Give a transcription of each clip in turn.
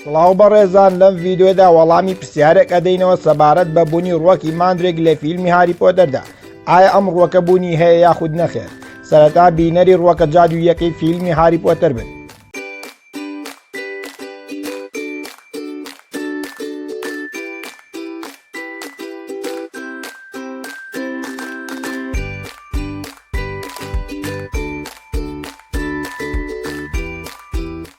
سڵاو بەڕێزان لەم ڤیددیۆدا وەڵامی پرسیارێک ئەدەینەوە سەبارەت بە بوونی ڕوەکی ماندرێک لە فیلمی هاری پۆدەردا ئایا ئەم ڕوەکە بوونی هەیە یاخود نەخێر سەرەتا بینەری ڕوەکە جادوویەکەی فیلمی هاری پۆتەر بن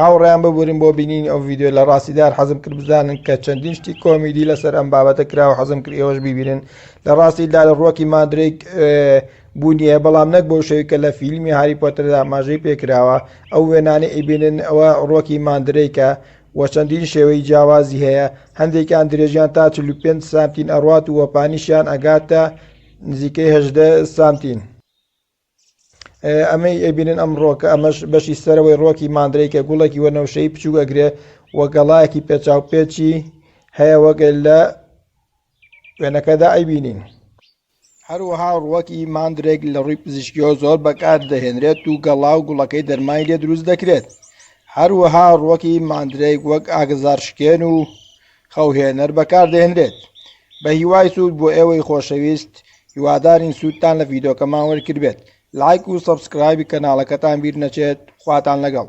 هاوڕێیان ببورن بۆ بینینی ئەو ڤیدیۆ لە ڕاستیدا هەر حەزم کرد بزانن کە چەندین شتی کۆمیدی لەسەر ئەم بابەتە کراوە حەزم کرد ئێوەش ببینن لە ڕاستیدا لە ڕۆکی مادرێک بوونیە بەڵام نەک بۆ شەوی کە لە فیلمی هاری پۆتەردا ماژەی پێکراوە ئەو وێنانە ئیبینن ئەوە ڕۆکی مادرێکە و چەندین شێوەی جیاوازی هەیە هەندێکیان درێژیان تا 45 سانتین ئەڕات و وەپانیشیان ئەگاتە نزیکەی 18 سانتین. ئەمەی ئەبینن ئەم ڕۆکە ئەمەش بەشی سەرەوەی ڕۆکی ماندرێکە گوڵێکی وەنەوشەی بچووک ئەگرێ و گەڵایەکی پێچاوپێچی هەیە وەگەل لە وێنەکەدا ئەیبینین هەروەها ڕوەکی ماندرێک لە ڕووی پزیشکیەوە زۆر بەکار دەهێنرێت و گەڵا و گوڵەکەی دەرمای لێ دروست دەکرێت هەروەها ڕوەکی ماندرێک وەک ئاگزار شکێن و خەوهێنەر بەکاردەهێنرێت. بە هیوای سوود بۆ ئێوەی خۆشەویست، هیوادارین سوودتان لە ڤیدۆکەمان وەرگربێت. لایک و سەبسکرایبی کەناڵەکەتان بیر نەچێت، خواتان لەگەڵ.